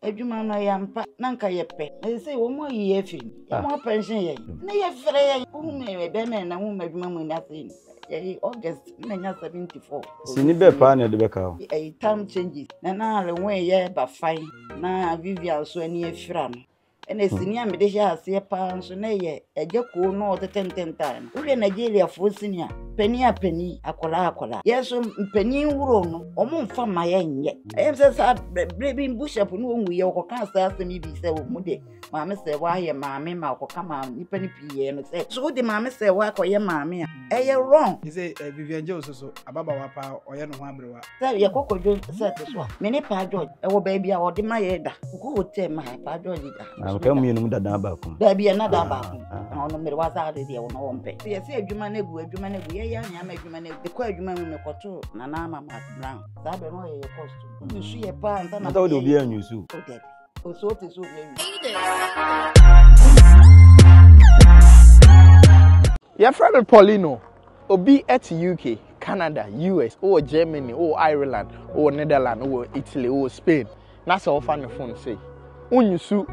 Adwuma no ɛyɛ ampa na nka yɛpɛ na sɛsɛ wɔn mu ayi yɛ afiri mu yɛn mu ah. apɛnhyɛn yɛn na yɛfrɛ yɛn wohum yɛ bɛrima yɛn na wohum adwuma mu ni ase yɛyi august na nya seventy four. sini bɛ paa na ɛde bɛka o. ɛyi time changes na na alewɔn yɛ ba fan na vivian nso ani afira no ɛna sini a mede hyɛ aseɛ paa nso na ɛyɛ Agya kuo no ɔde tenten tae no. Wohwɛ Nigeriafoɔ sini a, panin a panin, akwadaa akwadaa. Yɛn nso mpanin wuro no, wɔn mfa ma yɛn nyɛ. Ɛyɛ sɛ saa berɛ bi bushap no wɔn wuyɛ wɔkɔka saa asɛm yi bi sɛ wɔn de maame sɛ wɔayɛ maame ma wɔkɔka ma nipa no pii yɛ no sɛ so wode maame sɛ wɔakɔyɛ maame a. ɛyɛ wrong. Te sɛ eh, Vivian Jones nso so ababawa paa ɔyɛ ne ho aberewa. Sɛ yɛ kɔkɔ dwo sɛ te so a me ne Paa George ɛwɔ baabi a ɔde ma yɛ da. Kɔkɔ hotel ma Paa George da. Na mekɛ mmienu mu dada baako. Daabi ɛna da baako. Na ɔno mmere wasa ade deɛ ɔno ɔmpɛ. Sɛ yɛsɛ adwuma no agu adwuma no agu yɛyɛ anwea ma adwuma no agu. Mekɔ adwuma mu mekɔto Nana ama Mark Brown. Saa bɛ no ɔyɛ yɛ costume. Nsu yɛ paa nsa na. Nta wode obi anwusu. Daabi. nsuo te so obi awi. yɛfrɛ me paulino obi at uk canada us wowɔ germany wowɔ ireland wowɔ netherland wowɔ italy wowɔ spain na sɛ wofa ne phone sei wonyi su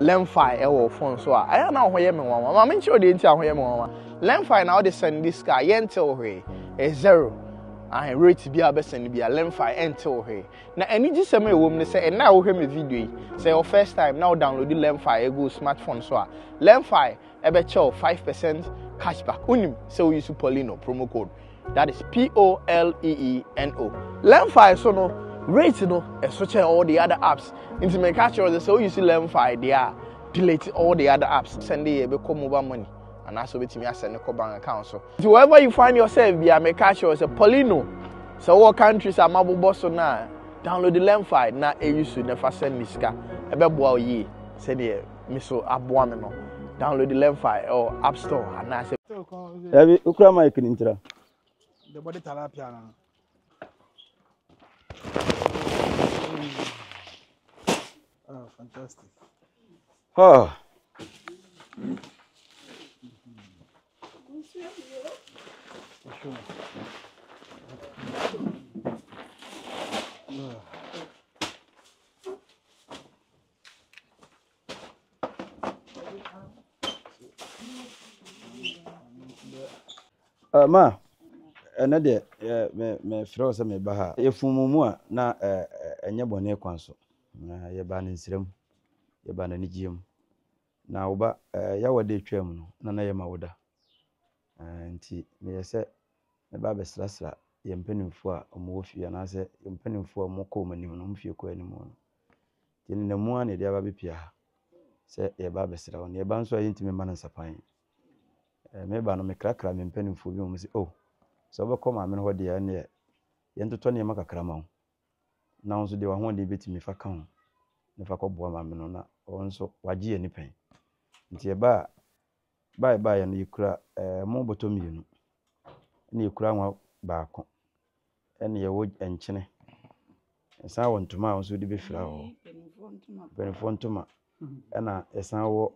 lemfi ɛwɔ phone so a ɛyɛ na ho yɛ me nwanwa ma menkyerɛ deɛ nti a ho yɛ me nwanwa lemfi na wode send this car yɛnte wo hwee ɛyɛ zero ahe rate bi a wobɛsɛne bi a lemfi ɛnte wo hwee Na anigyesɛm a ɛwom ne sɛ ɛnnɛ a wohwɛ me video yi, sɛ ɛyɛ wo first time na wo download Learnfy agu wo smartphone so a, Learnfy ɛbɛkyɛ wo five percent cashback. Wonim sɛ wo use Polino promo code. That is P-O-L-E-E-N-O. Learnfy so no, rate no ɛso kyɛn all the other apps. Nti meka akyerɛ wo sɛ sɛ wo use Learnfy deɛ a, delete all the other apps. Sɛnde yɛ ɛbɛkɔ mobile money anaasɛ wobɛtumi asɛne kɔ bank account so. Nti wherever you find yourself bia meka kyerɛ wo sɛ Paulino sɛ wowɔ countries a mabobɔ so no a download the Lemfi na ɛyi su na ɛfa send me sika ɛbɛboa wo yie sɛdeɛ me so aboa me no download the Lemfi ɛwɔ app store anaasɛ Dabi, wokura mic no ntira. The body tilapia no. Oh, fantastic. Oh. Uh, ma, ɛnɛ deɛ mefrɛ wo sɛ meba ha yɛfumu mu a na ɛnyɛ bɔne kwan so na yɛba no nsrɛ mu yɛba no anigyeɛ mu Na wo ba, eh, Yawa da etwa mu no, na na yɛ ma wo da. Eh, nti meyɛ sɛ mɛba abɛsrasra yɛn mpanimfoɔ a wɔn wɔ fie anaasɛ yɛn mpanimfoɔ a wɔn kɔ wɔn anim no, wɔn fie kɔ anim no. Nti ne na mu ara na yɛde aba bɛpia ha sɛ yɛba abɛsra wɔn. Yɛba nso a yɛntumi mma no nsapan. Eh, meba no mekrakra me mpanimfoɔ bi wɔn sɛ, oh, sɛ wobɛkɔ maame no hɔ deɛ ɛneɛ yɛntotɔ nneɛma kakra ma wo. na wo nso deɛ w'ahoɔden bɛtumi fa ka ho na fa kɔboa maame no na ɔno nso wagye ani pɛn. Nti yɛba a, ba a yɛbaeɛ no yɛkura ɛmo bɔtɔ mmienu, ɛna yɛkura anwa baako, ɛna yɛwɔ nkyene, yɛsan wɔ ntoma a nso de bɛfira hɔ, mpanimfoɔ ntoma, ɛna yɛsan wɔ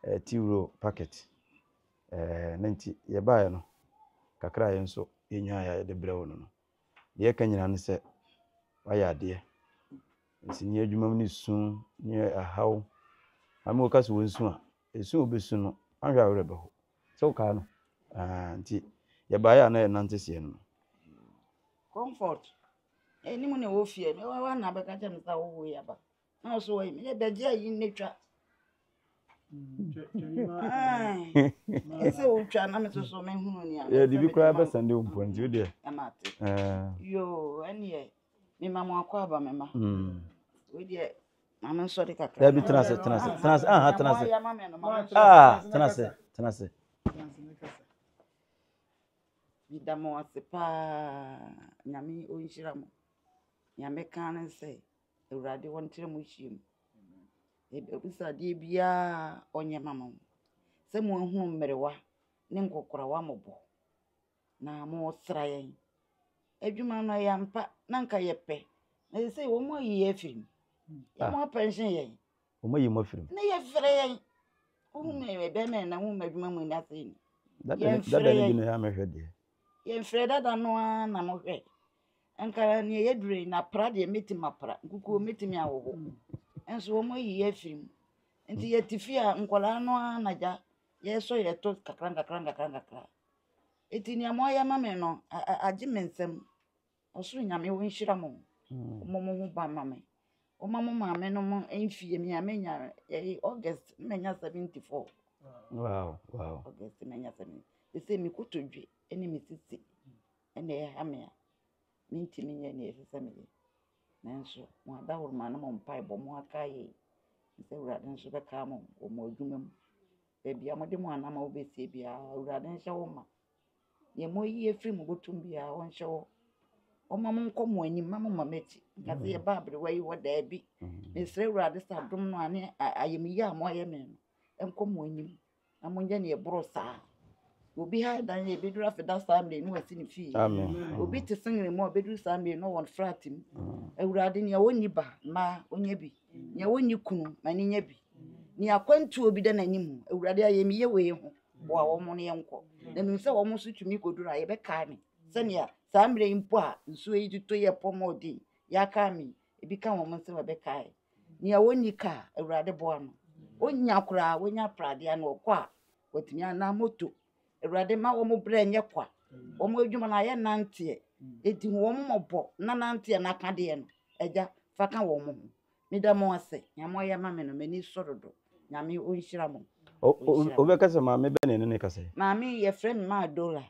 eh, tea roll packet. Eh, na nti yɛbaeɛ no kakra a yɛn nso yɛnyaeɛ a yɛde brɛ wo no no Deɛ ɛka nyinaa ne sɛ wayɛ adeɛ. Nsenia adwuma mu ne su ne ɛhaw. Maame woka sɛ wɔnsu a, ɛsu a wobɛsu no anhwɛ a wo werɛ bɛho. Sɛ wokae no? Ɛɛɛ nti yɛbaeɛ a na yɛnante seɛ no no. Comfort, Ɛnim na ɛwɔ fie. Mewɔ hɔ a na bɛka kyerɛ me sɛ awowoeɛ aba. na ɔsɛ wɔyɛ mene bɛgye ayi ne twa ɛsɛ wotwa na me soso mehunu nea yɛde bi koraa bɛsɛnde wo mpo nti wodeɛ ɛmate yo ɛneɛ mema mo akɔ aba me ma wodeɛ maame nsɔre kakra dabi tena ase tena ase tena ase aha tena ase ah tena ase tena ase meda mo ase paa nyame ɔnhyira mo nyame ka ne sɛ Awurade wɔn ntra mo nhyiam. Yɛbɛbisa adeɛ biara ɔnyɛ ma mo. Sɛ mo ahunu mmerewa ne nkɔkorawa mmɔbɔ na mo resra yɛn. Adwuma no ɛyɛ ampa na nka yɛpɛ. Na sɛ wɔn ayi yɛn afiri mu. Yɛ mo apɛnhye yɛn. wɔn ayi mo afiri mu. na yɛfrɛ yɛn wohu me ɛbɛn mɛ na wohu m'adwuma mu nni ase ni yɛmfrɛ yɛn na mehwɛ deɛ yɛmfrɛ dada no ara na mohwɛ nka neɛ yɛdure na pra deɛ mɛtumi apra nkukuo mɛtumi awoho nso wɔn ayi yɛ afiri mu nti yɛte fie a nkwadaa no ara na gya yɛsɔ yɛto kakra nkakra nkakra nkakra ɛti nea moayɛ ma me no agye me nsam Ɔsoro Nyame wo nhyira mo ɔmɔ mo ho ba ma me ɔma mo maame no mo mfie me a menya yɛyi August menya 74 wow wow August menya 70 ɛsɛ me kotodwe ɛne me sisi ɛna ɛha me a mentimi nyɛ ne ɛsɛ sɛ meyɛ nanso mo adawroma no mo mpae bɔ mo aka yɛ sɛ awurade nso bɛka mo wɔ mo adwuma mu baabi a mode mo anama wobɛsie biara awurade nhyɛ wo ma Deɛ moayi afiri mo bɔtɔ mu biara, ɔnhyɛ hɔ. Ɔmma mo nkɔ mo anim, mma mo mma m'akyi. Nka sɛ yɛba aberewa yi hɔ, daabi. Mesrɛ Awurade sɛ adom no a ne ayamyɛ a moayɛ me no, ɛnkɔ mo anim na monyɛ deɛ ɛboro saa. Obi ha dan yɛ ɛbɛduru afeda saa mmerɛ no wasi ne fie. Obi te sengene mu a ɔbɛduru saa mmerɛ no wɔ ne flat mu. Awurade nea ɔnni ba mmaa ɔnyɛ bi. Nea ɔnni kunu ma ne nya bi. Nea akwantuo bi da n'anim, Awurade ayamyɛ wei ho. boa wɔn no yɛnkɔ na menim sɛ wɔn nso tumi kɔduru a yɛbɛkae me sɛnea saa mmerɛ yi mpo a nsuo yi totɔ yi ɛpɔ mɔ den yɛakae me ebi ka wɔn nsɛm ɛbɛkae nea wɔnni ka a awurade boa no ɔnya koraa wɔnya pradeɛ ano ɔkɔ a wɔatumi anaa moto awurade ma wɔn berɛ nyɛ kwa wɔn adwuma no ayɛ nanteɛ ɛdi wɔn mmɔbɔ na nanteɛ no akadeɛ no agya fa ka wɔn ho Meda mo ase nea mo ayɛ ma me no m'ani sɔ dodo Nyame onhyira mo. O o obɛka sɛ maame bɛ ne no ne kasa yi. Maame yɛ frɛ me maa Dola.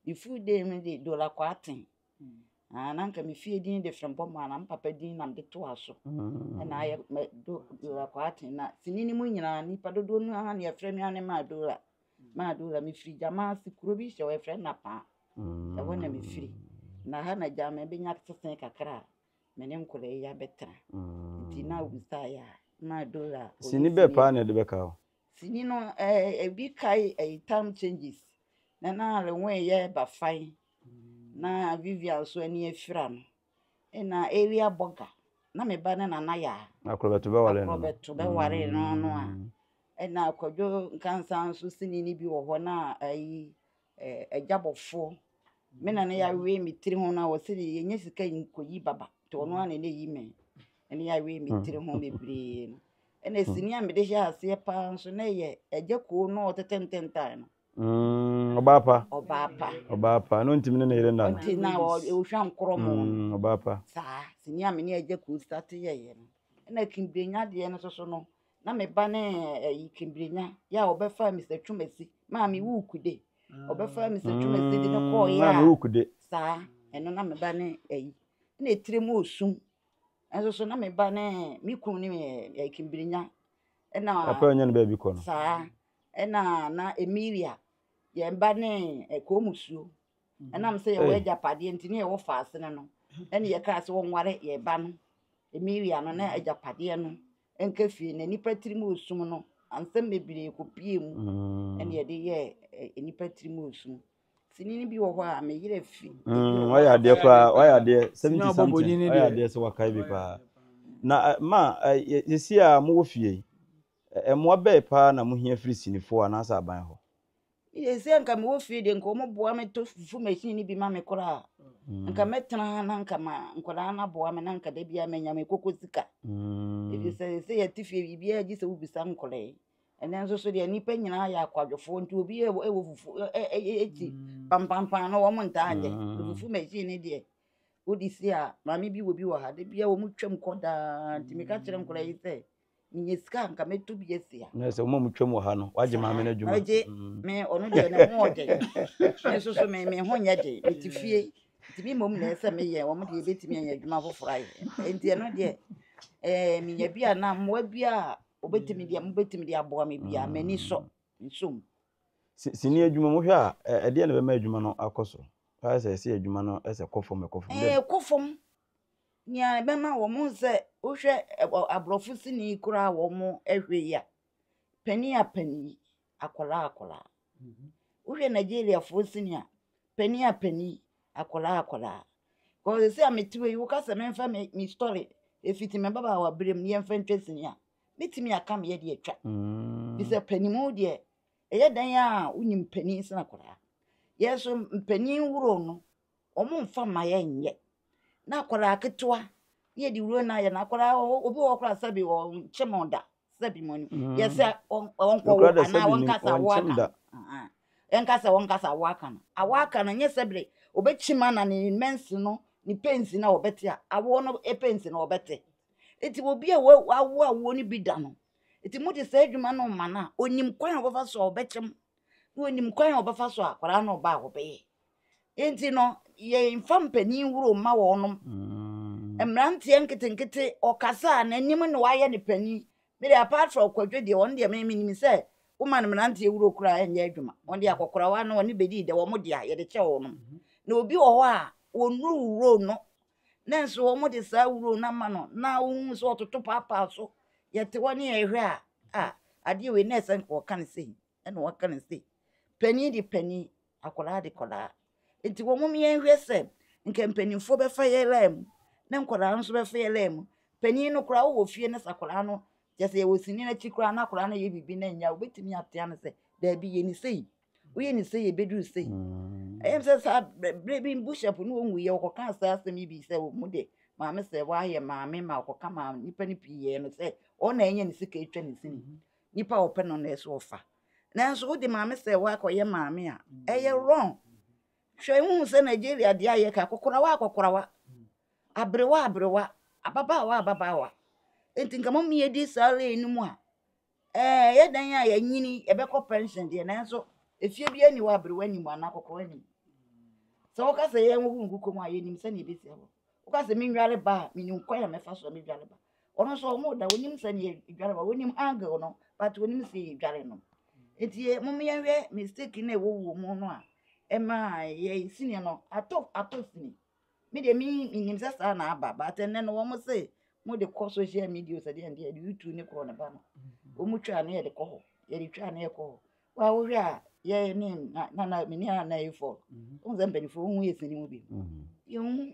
Me full day me de Dola kɔ aten. Mm. Ah, na nka me fie din de Frembɔ maa na me papa din na me de to aso. Mm. Ɛna ayɛ me do Dola kɔ aten na sini ne mu nyinaa nipa dodoɔ no aha ne yɛfrɛ me ane maa Dola. Maa Dola me firi gyama ase kuro bi hyɛ wɔfrɛ na paa. Mm. Ɛhɔ na me firi. Na ha na gyama bɛnya sese kakra. me ne nkwadaa yi abɛtena. Nti na obisaeɛ a, na Dora a ɔyɛ Sini bɛɛ paa na ɛde bɛka o. Sini no, ɛɛ, eh, ebi kae ɛyi time changes. Na na Renwen yɛ ba fan. Na Vivian nso ani afira no. Ɛna area bɔga. Na me ba ne nana yɛ a. Na akorɔbɛto bɛware no. Akorɔbɛto bɛware no no a. Ɛna akwadwo nkansa nso sini no bi wɔ hɔ na ɛyi adwabɔfoɔ. Me nana yawee me tiri ho no a ɔse deɛ yɛnyɛ sika nkɔyi baba nti ɔno ara na ɛna ɛyi me ɛne yawee me tiri ho bebree no ɛna sini a mede hyɛ aseɛ paa nso na ɛyɛ agya koo no a ɔtetɛ ntɛntan no Mm, ɔbaa pa ɔbaa pa ɔbaa pa ɛno ntimi ne ne yere nna no nti na ɔ- ɔhwa nkorɔ mo no Mm, ɔbaa pa saa sini a me ne agya koo sate yɛyɛ no ɛna kimbrenya deɛ no soso no na me ba ne ɛyi eh, twibirenya yɛ a ɔbɛfa mr twumasi maame wukude ɔbɛfa mr twumasi de ne mm, kɔɔ yɛ a saa ɛno na me ba ne ɛyi na etire mu osum ɛnso so na me ba ne me kun ne ɛɛ twibirenya ɛna papa yɛ nyɛ ne baabi kɔ no saa ɛna na emilia yɛn ba ne ɛkɔɔ musuo. Ɛnam sɛ yɛwɔ agyapadeɛ nti ne yɛwɔ faasene no ɛne yɛkaa sɛ wɔnware yɛ ba no Emilia no na agyapadeɛ no nka fie na nnipa tirim osum no ansɛm bebree kɔpie mu mm. ɛne yɛde yɛ nnipa tirim osum sini no bi wɔ hɔ a meyerɛ fi mm, wayɛ adeɛ koraa wayɛ adeɛ seventy something wayɛ adeɛ sɛ wakae bi paa na eh, ma eh, yɛsi a mowɔ fie yi eh, mmoa bɛɛ paa na mohia firi sinifoɔ anaasɛ aban hɔ Sɛ nka mewɔ fie deɛ nka wɔboa me tɔ fufu machine no bi ma me koraa mm. nka mɛtena ha na nka ma nkwadaa no aboa me na nka da biara manya me koko sika mm. ɛfiri sɛ sɛ yɛte fie biribiara gye sɛ wobisa nkɔlɛe ɛnɛ nso so deɛ nnipa nyinaa yɛ akwadwofoɔ nti obi ɛwɔ fufu ɛkyi mm. pampampan no wɔn ntaa nyɛ fufu machine no deɛ wode si a maame bi wɔ bi wɔ ha da biara wɔn twam kɔ daa nti meka kyerɛ nkɔlɛe sɛ menya sika nka mɛtɔ bi asi ha na sɛ wɔn a wɔtwam wɔ ha no wagye maame no adwuma ɔgye mm. me ɔno deɛ ne ho ɔden me nso so me me ho nyɛ den mete fie nti me mmom na ɛsɛ sɛ meyɛ wɔn deɛ ɛbɛtumi ayɛ adwuma foforɔ ayɛ nti ɛno deɛ ɛɛ menya bi a na mmoa bi a wɔbɛtumi deɛ mobɛtumi de aboa me bi a mm. m'ani sɔ nsom sini adwuma mohwɛ a ɛdeɛ na ɛbɛma adwuma no akɔ so ayɛ sɛ ɛsɛ adwuma no ɛsɛ kɔ fam ɛkɔ fam ɛɛ kɔ fam Nea ɛbɛma wɔn hu sɛ wohwɛ aborɔfo sini koraa wɔn hwɛ yi a, panin a panin, akwadaa akwadaa. Mhm. Wohwɛ Nigeriafoɔ sini a, panin a panin, akwadaa akwadaa. Kɔɔ sɛ a metewe yi, woka sɛ memfa me me story efiti me babaawa berem ne yɛmfa ntwa sini a, metumi aka me yɛde atwa. Mm. Bisɛ panimu deɛ ɛyɛ dan a wonim panin sena koraa yɛso mpanin woro no wɔmfa mma yɛnyɛ. Na akwadaa ketewa na yɛde wuro no ayɛ no. Akwadaa obi wɔ hɔ koraa sɛbi ɔnkyem da sɛbi mo ni. Mm. Yɛsɛ ɔnkɔ wo anaa wɔnkasa wo aka. Ɛnkasa wɔnkasa wo aka no. Awo aka no nyɛ sɛbi ɔbɛkyim ana ne mɛnsi no ne pensi na ɔbɛte a awoɔ no pensi na ɔbɛte. Eti obi a wawo awoɔ no bi da no. Eti mo de saa adwuma no ma no a onim kwan a ɔbɛfa so a ɔbɛkyem. Na onim kwan a ɔbɛfa so a akwadaa no ba a ɔbɛyɛ. Nti no, yɛmfa mpanin woro mma wɔnom. Mm. Mmeranteɛ nketenkete, ɔkasa a n'anim na wayɛ ne panin. Me deɛ apart from kwadwo deɛ, wɔn deɛ me menim sɛ woma no mmeranteɛ wuro koraa ɛnyɛ adwuma. Wɔn deɛ akɔkorawa no wɔne bɛdii dɛ, wɔn deɛ a yɛde kyɛ wɔnom. Mm-hmm. Na obi wɔ hɔ a, wɔnnuru wuro no nanso wɔn de saa wuro no ama no na wohu sɛ ɔtoto paapaa so yɛte hɔ ne yɛhwɛ a a adeɛ wei na ɛsɛ nka wɔka no sei ɛna wɔka no sei panin de panin Akwadaa de kwadaa. Nti wɔ mom yɛn hwɛ sɛ nka mpaninfoɔ bɛ fa yɛ laa mu ne nkwadaa nso bɛ fa yɛ laa mu. Panin no koraa wowɔ fie ne sɛ akwadaa no kyɛ sɛ yɛwɔ sini no akyi koraa na akwadaa no yɛ biribi na ɛnyɛ a wobɛtumi atea no sɛ daabi yɛ ne sei. Woyɛ ne sei ɛbɛduru sei. Mm. Ɛyɛ sɛ saa berɛ bi bushap ne wɔn wuyɛ wɔkɔka saa asɛm yi bi sɛ wɔn mu de maame sɛ wɔayɛ maame ma wɔkɔka maame nipa no pii yɛ no sɛ ɔna ɛnyɛ ne sika atwa ne sini. Mm-hmm. Nipa a ɔpɛ no na ɛsɛ ɔfa. nanso wode maame sɛ woakɔyɛ maame a, ɛyɛ wrong. Hwɛ wohu sɛ Nigeria deɛ a yɛka akɔkorawa akɔkorawa, aberewa aberewa, ababaawa ababaawa. Nti nka mo mmiedi saa lane no mu a, ɛɛ yɛ dan a yɛnyini yɛbɛkɔ pension deɛ nanso efie bi ani wɔ aberewa anim anaa akɔkorawa anim. Sɛ woka sɛ yɛn wogu nkukom a yɛnim sɛnea ɛbɛsi hɔ. Woka sɛ menware ba a, menim kwan a mɛfa so a mɛdware ba. Ɔno nso ɔmo da onim sɛ ne yɛdware ma onim angle no but onim sɛ yɛdware no nti mo yɛnhwɛ mistake na ɛwɔ wɔ mu no a ɛma yɛ sini no atɔ atɔ sini me deɛ menim sɛ saa na aba but ɛnɛ no wɔn se mo de kɔ social media sɛ deɛ deɛ de youtube ne korɔ ne ba no wɔn twa ne yɛde kɔ hɔ yɛde twa ne yɛ kɔ hɔ wɔn a wɔhwɛ a yɛ ne nana mene a na yɛ fɔl wɔn sɛ mpanyinfoɔ wɔn yɛ sini mu bi yɛn mu.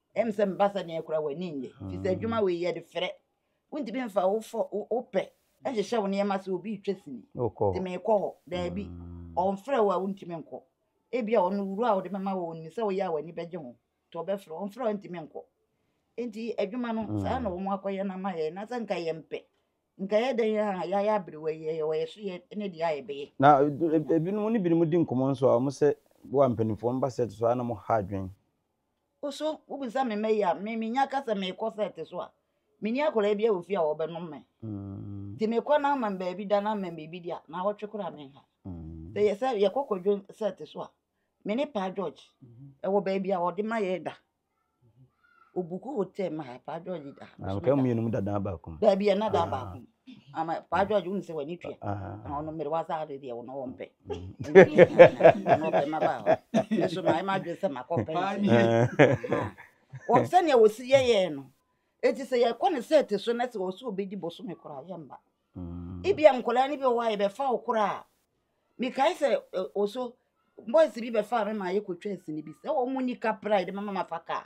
ɛm sɛ meba sɛ neɛ kora w'ani nnye fi sɛ adwuma wei yɛde frɛ wontumi mfa wofɔ wopɛ nhyehyɛ wo nneɛma sɛ obi retwa sini te meekɔ hɔ daabi mm. ɔmfrɛ wo a wontumi nkɔ ebi a ɔno wuro a wode mɛma wɔ nim sɛ woyɛ a w'ani bɛgye ho nti ɔbɛfrɛ ɔmfrɛ wo ntumi nkɔ nti adwuma no mm. saa na wɔn akɔyɛ no ama yɛ na sɛ nka yɛ mpɛ nka yɛ dɛn a yɛayɛ aberewa yi yɛ wɔyɛ so yɛ ne deɛ a yɛbɛyɛ na e, e, ebinom ne binom di nkɔmmɔ nso a wɔn sɛ wɔ mpanimfoɔ mba sɛ to so a na mo ha adwene Wo so wobisa me mma yi a me menya ka sɛ merekɔ sɛ ɛte so a, menni akwadaa bi a wɔ fie a wɔbɛnom me. Mm. Nti mekɔ na ama baabi da na ama biribi di a na awɔtwe koraa menha. Mm. Sɛ yɛ sɛ yɛkɔ kwadwo sɛ ɛte so a me ne Paa George mm-hmm. ɛwɔ baabi a wɔde ma yɛ da. Obuku hotel ma ha Paa George da ha. Nka mmienu mu dadaa baako. Baabi a na daa ah. baako. ama paa george wonu sɛ w'ani tua na ɔno mmere wasa ade deɛ wo na ɔmpɛ ɔno ɔpɛ ma baa hɔ nso mayɛ m'adwene sɛ makɔ pɛ sɛnea wɔsi yɛyɛɛ no ɛti sɛ yɛkɔ ne sɛ te so na sɛ ɔsɛ ɔbɛdi bosome koraa yɛmba ebia nkɔlaa no bi wɔ a yɛbɛfa wo koraa mekae sɛ ɔso boys bi bɛfaa me ma yɛkɔtwa asini bi sɛ ɔmu nika pride mama mafa kaa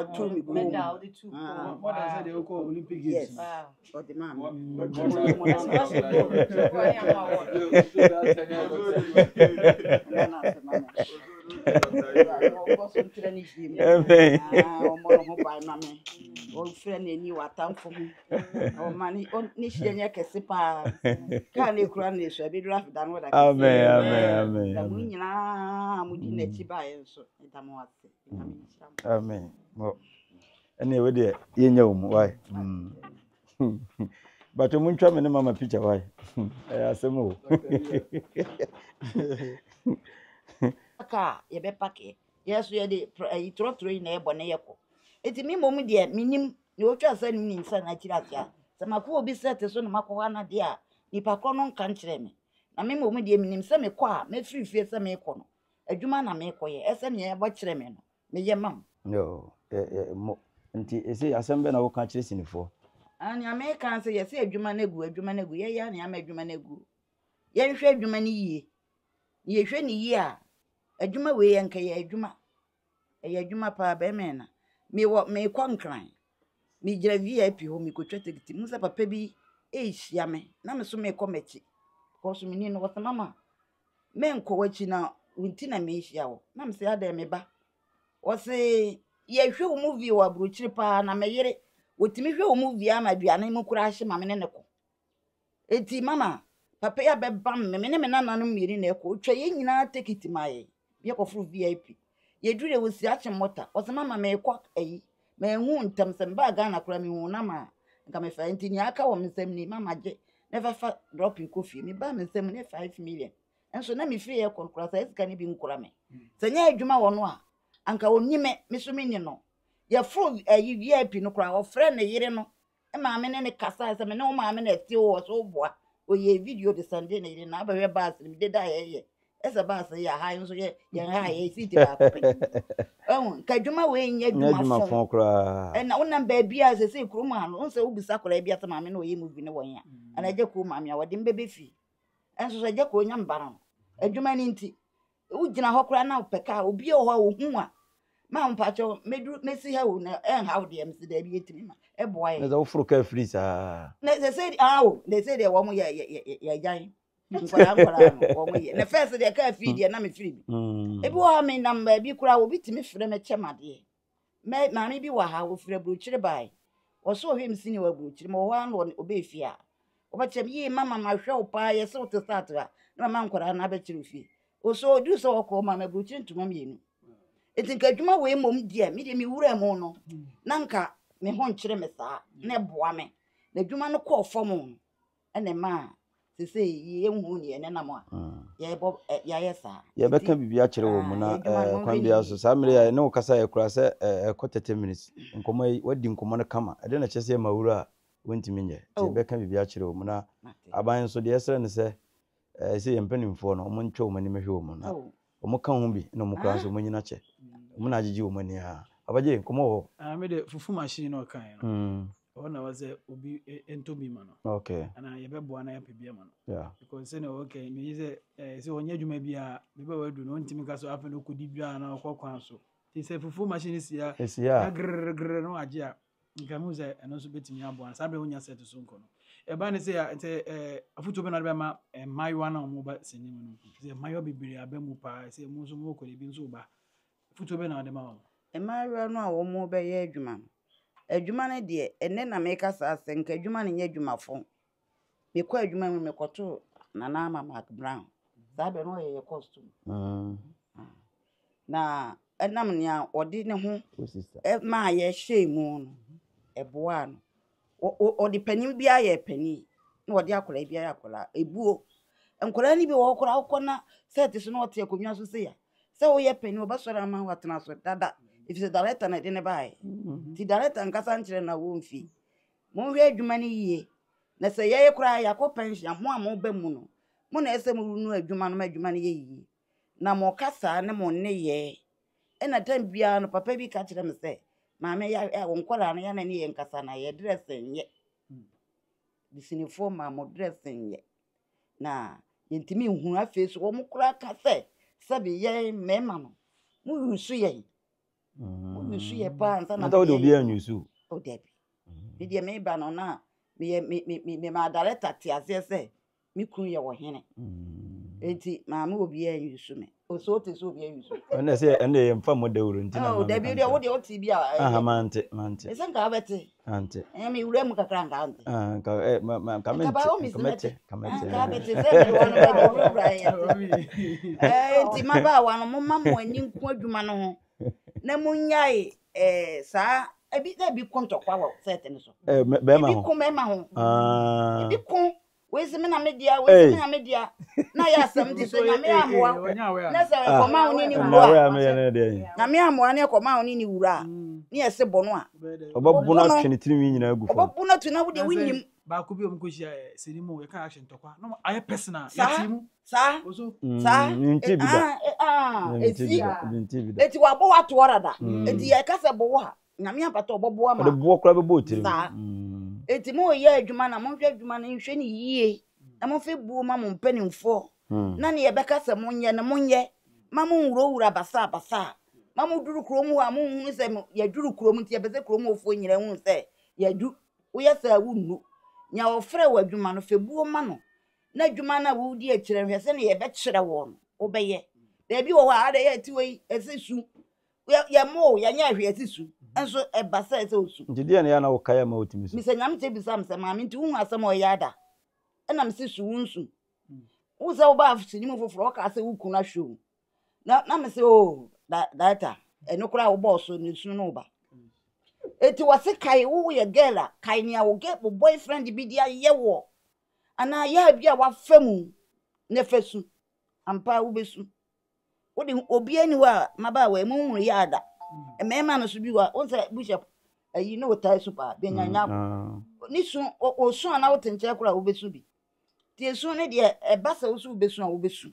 ɛtɔ ne kɔn mu ah more than sɛ deɛ wokɔ olympic games yes ɔde maa me ɔfrɛ no ani watamfo ho ɔma ne hyerɛ nyɛ kɛse paa kaa ne kura no ɛsu abɛduru afeda no wɔda kɛse mu nyinaa mode n'akyi baeɛ nso ɛda mo ase Amen. Mo. Ɛne ɛwɔ deɛ yɛnya wɔ mu wae. Bàtò mo ntwa me ne mama picture wae. Ɛyɛ asɛm o. Kaa yɛbɛpake yɛ so yɛde ayi trɔtrɔ yi na ɛbɔ ne yɛkɔ. Eti me mmom deɛ menim na otwa sɛ no nim sɛ na akyiri ase a sɛ makɔ obi sɛ te so na makɔ hɔ ana deɛ a nipa korɔ no nka nkyerɛ me. Na me mmom deɛ menim sɛ mekɔ a mɛfiri fie sɛ mekɔ no Adwuma na merekɔyɛ. Ɛ sɛnea ɛbɔ kyerɛ me no, meyɛ ma wo. No, ɛ, ɛ, mo. Nti, ɛsei, asɛm bɛn na woka kyerɛ sinifoɔ? Ah, nea meka ara sɛ, yɛse adwuma no agu, adwuma no agu. Yɛyɛ ara nea ama adwuma no agu. Yɛnhwɛ adwuma no yie. Na yɛhwɛ no yie a, adwuma wei yɛnkɛyɛ adwuma. Ɛyɛ adwuma paa bɛma yɛn na. Mewɔ mekɔ nkran. Megyina VIP hɔ mekotwa tekiti mehu sɛ papa bi rehyia me na me nso mekɔ m'akyi because menim no ɔsɛ mama menkɔ w'akyi na wo nti na merehyia wo na mesɛ adɛn me ba ɔse yɛhwɛ wo movie wɔ aburokyiri paa na me yere wɔtumi hwɛ wo movie ama aduane mu koraa hye ma me ne ne kɔ Enti mama papa yi abɛba me, me ne me nananom mmienu na ɛkɔ. Ɔtwa yɛn nyinaa tekiti ma yɛn, yɛkɔforo VIP. Yɛduru yɛ wɔsi akye mɔta. Ɔse mama merekɔ ayi, manhu ntɛm, sɛ mebaa Ghana koraa mehu wo nam a, nka mefa yɛ. Nti nea aka wɔ me nsam ni, mama gye na fɛfa drop yi kɔ fie. Mebaa me nsam ne five million. Nso na mefiri yɛ rekɔ no koraa saa sika no bi nkura me. Sɛ nyɛ adwuma wɔ no a, anka ɔnni me, me nso menni no. Yɛforo ayi VIP no koraa, ɔfrɛɛ ne yere no maame ne ne kasae sɛ me ne wo maame na ɛte wɔ so boa ɔyɛ video de sɛnde ne yere na abɛhwɛ baase no mede da yɛyɛ ɛsɛ baase yɛ aha nso yɛ yɛn ha yɛ seat baako pɛ ɛhu nka adwuma wei nyɛ adwuma fɔn koraa ɛna wonam baabi a sɛ sɛ kurom ha no sɛ wobisa koraa bi asɛ maame na ɔyɛ movie ne wɔn a ɛna agya kuo maame a wɔde mbɛbɛ fie ɛnso sɛ agya kuo nya mbara no adwuma no nti wogyina hɔ koraa na wopɛ kaa obi wɔ hɔ a ohu a ma mpakyɛ mɛduru mɛsi ha o na ɛnha wo deɛ mese daabi yɛtumi ma ɛboa yɛ na sɛ woforo kaa firi saa na sɛ sɛ ah o na sɛ deɛ wɔn yɛ yɛ yɛ yɛ agyan nkwadaa nkwadaa no wɔn yɛ na fɛs deɛ kaa firi deɛ na mefiri bi ebi wɔ ha menam baabi koraa obi tumi frɛ me kyɛ madeɛ mɛ maame bi wɔ ha ɔfiri aburokyire bae ɔsɛ ɔhwɛ me sini wɔ aburokyire ma ɔhɔ ano ɔbɛ fie a ɔbɛkyerɛ me yie mama mahwɛ wo paa yɛsɛ wote sɛ atra na mama nkwadaa no abɛkyerɛ wo fie ɔsɛ ɔduru sɛ ɔkɔ ma me aburokyire ntoma mmienu ɛti nka adwuma wei mmom deɛ medeɛ mewura mu no na nka me ho nkyerɛ me saa na ɛboa me na adwuma no kɔɔ fam no ɛna ɛma sese yɛnhu ne yɛn nenam a yɛbɔ yɛayɛ saa yɛbɛka biribi akyerɛ wɔ mu na kwan biara so saa mmerɛ a ɛne wo kasa yɛ kora sɛ ɛkɔ 30 minutes nkɔmmɔ yi wadi nkɔmmɔ no kama ɛde na kyɛ sɛ yɛma wura a wontumi nyɛ nti yɛbɛka biribi akyerɛ wɔ mu na aban nso deɛ ɛsrɛ no sɛ Ɛɛ sɛ yɛn mpanimfoɔ no, wɔn ntwa wɔn anim hwɛ wɔn na wɔn ka ho bi na wɔn kura nso wɔn nyina kyɛ. Wɔn na agyegye wɔn ani aa. Abagye, nkɔmɔ wɔ hɔ? Ah me de fufu machine na ɔkaeɛ no ɛhɔ na ɛwɔ sɛ obi ntɔ bi ma no okay anaa yɛbɛboa na yɛapɛ bi ama no yeah because sɛnea ɔkae no megye sɛ eh, sɛ ɔnyɛ adwuma biara bɛbɛ wadu no ɔntumi ka so afei na ɔkɔdi dwa na ɔkɔ kwan so nti sɛ fufu machine si a ɛsi a grrgrr no agye a Nka mehu sɛ ɛno nso bɛtumi aboa no. Saa berɛ wonya sɛte so nkɔ no. Ɛba ne sɛ sɛ afotuo bɛna de bɛma mmaayewa no a wɔba sini mu no. Sɛ mmaayewa bebree aba mu paa sɛ mu nso mowɔ kɔde bi nso ba. Afotuo bɛna wɔde ma wɔn. Mmaayewa no a wɔbɛyɛ adwuma no. Adwuma no deɛ, ɛnnɛ na meka saa asɛm, nka adwuma no nyɛ adwuma fo. Mekɔɔ adwuma mu no, mekɔtoo Nana Ama Marc-Brown. Saa berɛ no na ɔyɛ yɛn costume. Na ɛnam nea ɔde ne ho maa yɛhyɛɛ mu no, ɛboaa no. Ɔde panin biara yɛɛ panin, na ɔde akwadaa biara yɛɛ akwadaa. Ɛbuo. Nkwadaa no bi wɔ hɔ koraa wokɔ na sɛt so na ɔte akonnwa so sei a, sɛ woyɛ panin a, ɔbɛsɔre ama wo atena so dada, ɛfiri sɛ darekta na ɛde no baeɛ. Nti darekta nkasa nkyerɛɛ no na ɔmfie. Monhwɛ adwuma no yie na sɛ yɛye koraa yɛakɔ pɛnhyen a mo a moba mu no mo na ɛsɛ morunu adwuma no ma adwuma no yɛ yie na mo kasa ne mo nneyɛɛ ɛna tam biara no papa bi ka kyerɛ me sɛ maame ya ɛ nkwadaa no yɛ na ne yɛ nkasa na yɛ dressing nyɛ bisinifoɔ ma mo dressing nyɛ na yɛntumi nhunu afei so wɔn koraa ka sɛ sɛbi yɛn mmarima no mo yusu yɛn. wonusu yɛ paa nsa na wode obi anwusu o dabi me deɛ meba no na meyɛ me me me me maa director te aseɛ sɛ me kunu yɛ wɔ hene eti maa me obi anwusu me ɔsɛ ɔte sɛ obi anwusu ɛnna sɛ ɛnna yɛ nfa mo dawuro nti na ma me kante o dabi deɛ wo deɛ ɔte bi a ɛyɛ mante mante ɛsɛ nka abɛte Ante. Ɛnyɛ me wura mu kakra nka ante. Ah, nka ɛ eh, ma ma nka mente. Nka bawo mi si mɛte. Nka mɛte. Nka mɛte sɛ mi wɔ no bɛbɛ wura wura yɛ. Ɛɛ nti ma ba wa no mo ma mo ani nko adwuma no ho na mo nyae ɛɛ saa ebi na ebi ko ntɔkwa wɔ sɛɛte no so. Ɛɛ bɛrima ho. Ebi ko bɛrima ho. Ah. Ebi ko wese me na me dea wese me na me dea na yɛ asɛm de sɛ nyame amoa na sɛ ɛkɔma wo ne ne wura nyame amoa na ɛkɔma wo ne ne wura a ne yɛse bɔ no a ɔbɛbo no atwe ne tirinwi nyinaa gu fam ɔbɛbo no atu na wodeɛ wonyim baako bi a ɔmkɔhyia sɛni mu yɛka action tɔkwa na ayɛ personal yɛte mu saa saa nti bi da ɛti ɛti wabɔ watoɔ rada ɛti yɛka sɛ bɔ wo ha Nyame apata ɔbɔboa ma. Ɔde boɔ koraa bɛbɔ wo tirim. Saa. Eti mo yɛ adwuma na monhwɛ adwuma no nhwɛ ne yie na momfe buo ma mo mpanimfoɔ na nea ɛbɛka sɛ monyɛ no monyɛ ma monwurawura basaa basaa ma moduru kurom hɔ a monhunu sɛ yɛaduru kurom nti yɛpɛ sɛ kurom hɔfoɔ nyinaa hunu sɛ yɛadu woyɛ saa wonnu nea ɔfrɛ wɔ adwuma no fɛ buo ma no na adwuma no a wodi akyerɛ nhwɛ sɛ ne yɛbɛkyerɛ wɔ no wobɛyɛ baabi wɔ hɔ a ada yɛ atiwa yi ɛsɛ su yɛ mo o yɛnyɛ hwee ɛsi su nso ɛba sɛ ɛsɛ osu. Nti deɛ ne yɛ na wokae ama otumi su. Mesɛ nyame kyɛ bisa me sɛ maame nti wohu asɛm a ɔyɛ ada ɛna mese su wo nsu wo sɛ wobaa sini mu foforɔ ɔkaa sɛ wo kunu ahwɛ o na na mese o oh, da daata ɛno koraa wobɔɔ so ne sunu no ba eti wɔse kae wo woyɛ girl a kae nea wo girl wo boyfriend bi de ayɛ wɔ anaa yɛ bi a wafa mu na fa su ampa wobɛsu wode obi ani hɔ a mmabaawa emu nwunu yɛ ada mmarima no so bi wa wosɛ bishop ayi ne wotae so paa bɛnyanya mm, ah. ne su ɔsu a na wote nkyɛn koraa wobɛsu bi nti esu no deɛ ɛba sɛ wo so wobɛsu a wobɛsu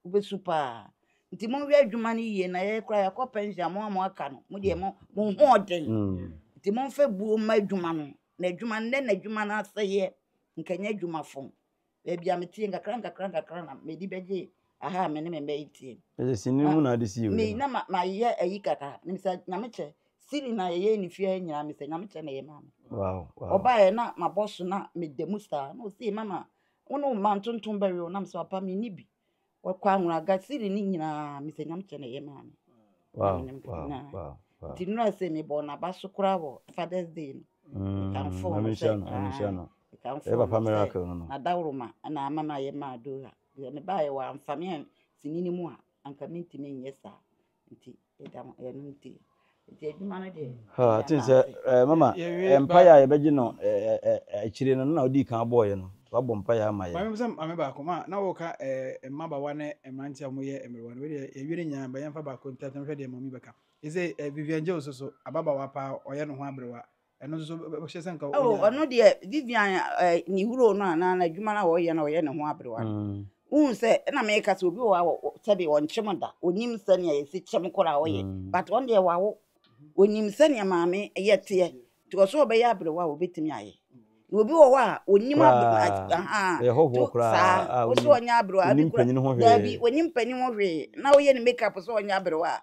wobɛsu paa nti monhwɛ adwuma no yie na yɛyɛ koraa yɛakɔ pension mo a mo aka no mo deɛ mo mo ho ɔden mm. nti momfa buo mma adwuma no na adwuma nnɛ na adwuma no asɛeɛ nkɛnyɛ adwuma fam baabi a meteɛ nkakra nkakra nkakra na mede bɛgye aha a me ne me mma yi teɛ. Ɛyɛ sini mu na ade si yɛ wei. Na mayɛ ayi kakra mesɛ nyame kyɛ sini na yɛyɛ ne fie ha nyinaa mesɛ nyame kyɛ na ɛyɛ maa me. Ɔbaeɛ na mabɔ so na meda mu saa na ɔsɛ mama wo ne wo mma ntontom bɛwe wo na mesɛ papa menni bi Wɔkɔ anwona agasiri ne nyinaa mesɛ nyame kyɛ na ɛyɛ maa me nti nura sɛ mebɔ naba so koraa wɔ fathers day no mekamfo no sɛ mekamfo no sɛ nadaworoma na ama no ayɛ maa dora mebaeɛ wɔ amfa me a sini no mu a anka mentumi nyɛ saa Nti ɛda mo ɛno nti nti adwuma no deɛ. Ha ti sɛ ɛɛ mama mpaeɛ a yɛbɛgye no ɛɛ ɛɛ akyire no na ɔdi kan bɔɔyɛ no wabɔ mpaeɛ ama yɛ. Maame sɛ maame baako ma na wɔka ɛɛ mmabawa ne mmeranteɛ a wɔyɛ mmerewa no wei deɛ yɛwie ne nyinaa bɛyɛ mfa baako ntɛntɛm hwɛ deɛ maame bɛka. Ɛsɛ ɛɛ Vivian Jones nso ababaawa paa ɔyɛ ne ho aberewa ɛno nso bɛhyɛ sɛ nka oh, ɔno deɛ vivian eh, ne huro no anaa n'adwuma no a ɔyɛ no ɔyɛ ne ho aberewa no mm. wohu sɛ ɛna meka sɛ obi wɔ a sɛdeɛ ɔnkyem da ɔnim sɛnea yɛsi kyɛm kora a ɔyɛ mm. but ɔn deɛ wawo ɔnim sɛnea maame yɛ teɛ nti ɔsɛ ɔbɛyɛ aberewa a ɔbɛtumi ayɛ na obi wɔ hɔ a ɔnim saa ɔsɛ ɔnyɛ aberewa bi kora daabi ɔnim panin ho hwee na ɔyɛ ne makeup sɛ ɔnyɛ aberewa a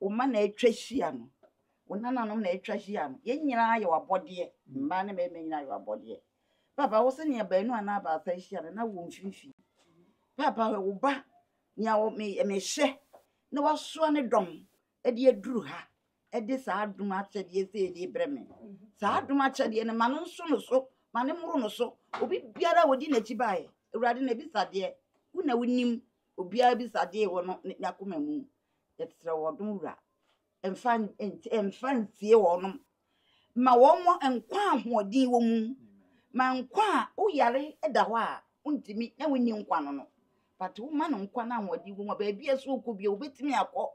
Wo mma na atwa ahyia no. Wo nananom na atwa ahyia no. Yɛn nyinaa yɛ w'abɔdeɛ. Mmaa ne mmarima nyinaa yɛ w'abɔdeɛ. Paapa, wo se nea baanu anaa baasa ahyia no, na wowɔ mfimfini. Paapa, hwɛ wo ba, nea mehyɛ na wasoa ne dɔm de aduru ha de saa adom akyɛdeɛ sei de brɛ me. Saa adom akyɛdeɛ no, ma no nso no so, ma no mmoro no so. Obi biara a ɔdi n'akyi baeɛ, Awurade, n'abisadeɛ, wo na wonim obiara bisadeɛ wɔ no n'akoma mu. Yɛsrɛ wo ɔdom wura, mfa mfa nsie wɔn. Ma wɔn nkwa a ahoɔden wɔ mu. Ma nkwa a woyare da hɔ a wontumi na wonni nkwa no no. But woma no nkwa no ahoɔden wɔ mu a baabi a ɛsɛ wokɔ bio wobɛtumi akɔ.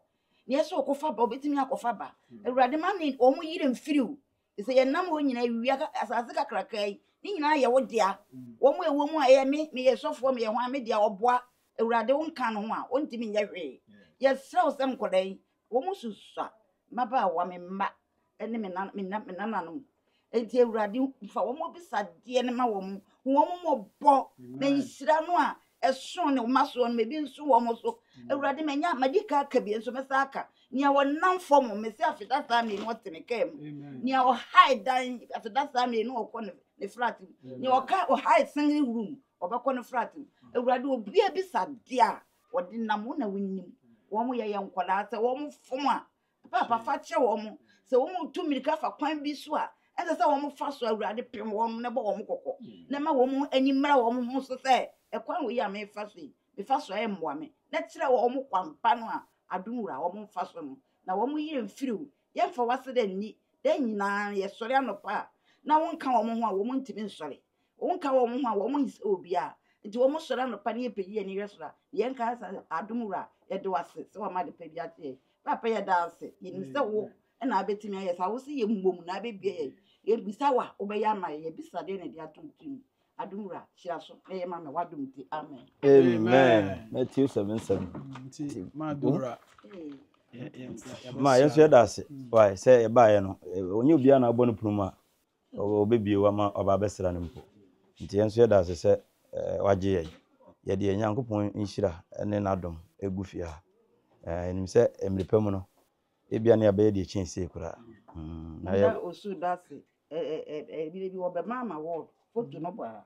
Nea ɛsɛ wɔkɔfa ba wobɛtumi akɔfa ba. Awurade ma ne wɔn yere mfiri wo. Te sɛ yɛn nam hɔ nyinaa wia asase kakraka yi ne nyinaa yɛ wo dea. Wɔn a ɛwɔ mu a ɛyɛ me meyɛ sɔfoɔ meyɛ ho a me dea ɔboa awurade wo nka no ho a ɔntumi nyɛ hwee. Yɛsrɛ wo sɛ nkɔda yi wɔn susua mmabaawa me mma ne me nan me nan me nananom. Enti awurade fa wɔn bisadeɛ no ma wɔn ho wɔn mmɔbɔ na nhyira no a ɛso ne mma soɔ no mebi nso wɔn so mm. awurade manya madi ka aka bi nso mɛsa aka nea wɔnam fam me sɛ afeda saa mmienu ɔte me kaa mu nea ɔhae dan afeda saa mmienu ɔkɔ ne flat mu nea ɔka ɔhae singing room ɔbɛkɔ ne flat mu awurade obia bi sa deɛ a wɔde nam wo na wonim wɔn yɛ yɛ nkwadaa sɛ wɔn fam a Paapa fa kyerɛ wɔn sɛ wɔn retu mmirika fa kwan bi so a ɛnsɛ sɛ wɔn fa so awurade pem wɔn na bɔ wɔn kɔkɔ na ma wɔn ani mmra wɔn ho so sɛ ɛkwan wɔ yi a mefa so yi mefa so a ɛmmoa me na kyerɛ wɔn kwampa no a adom wura wɔn mfa so no na wɔn yere mfiri o yɛmfa wase dɛ nni dɛ nyinaa yɛsɔre anɔpa a na wɔnka wɔn ho a wɔn ntumi nsɔre Wonka wɔn ho a, wɔn nyi sɛ obiara. Nti wɔn sɔre anɔpa ne yɛpɛ yi ani hwɛ soro a, yɛn ka sɛ adom wura, yɛde wase sɛ wɔama adepa bi akyɛ yɛn. Papa yɛda ase, yɛnim sɛ wo mm. na abɛtumi ayɛ saa, wo se yɛ mmom na abɛbie yɛn. Yɛbisa wa, wobɛyɛ ama yɛn, yɛbisa deɛ na ɛde ato ntim. Adom wura, hyira so na yɛ ma me wadom nti, amen. Amen. Matthew 7 7. Nti, ma adom wura. Ma yɛn nso yɛda ase, wae sɛ yɛbaeɛ no, ɔnyɛ obiara na abɔ no punu mu a, Ɔbɛbue wo ama waba abɛsra no mpo. Nti yɛn nso yɛda ase sɛ wagye yɛn. Yɛde yɛn Nyankopɔn nhyira ne n'adom gu fie ha. Yɛnim sɛ mmere pa mu no, ebia na yɛabɛyɛ deɛ ɛkyɛn sei koraa. Na yɛ. Osu da ase. Ɛɛ ɛɛ ɛɛ ɛɛ ebire bi wɔbɛma ama ward foto no bɔ ara.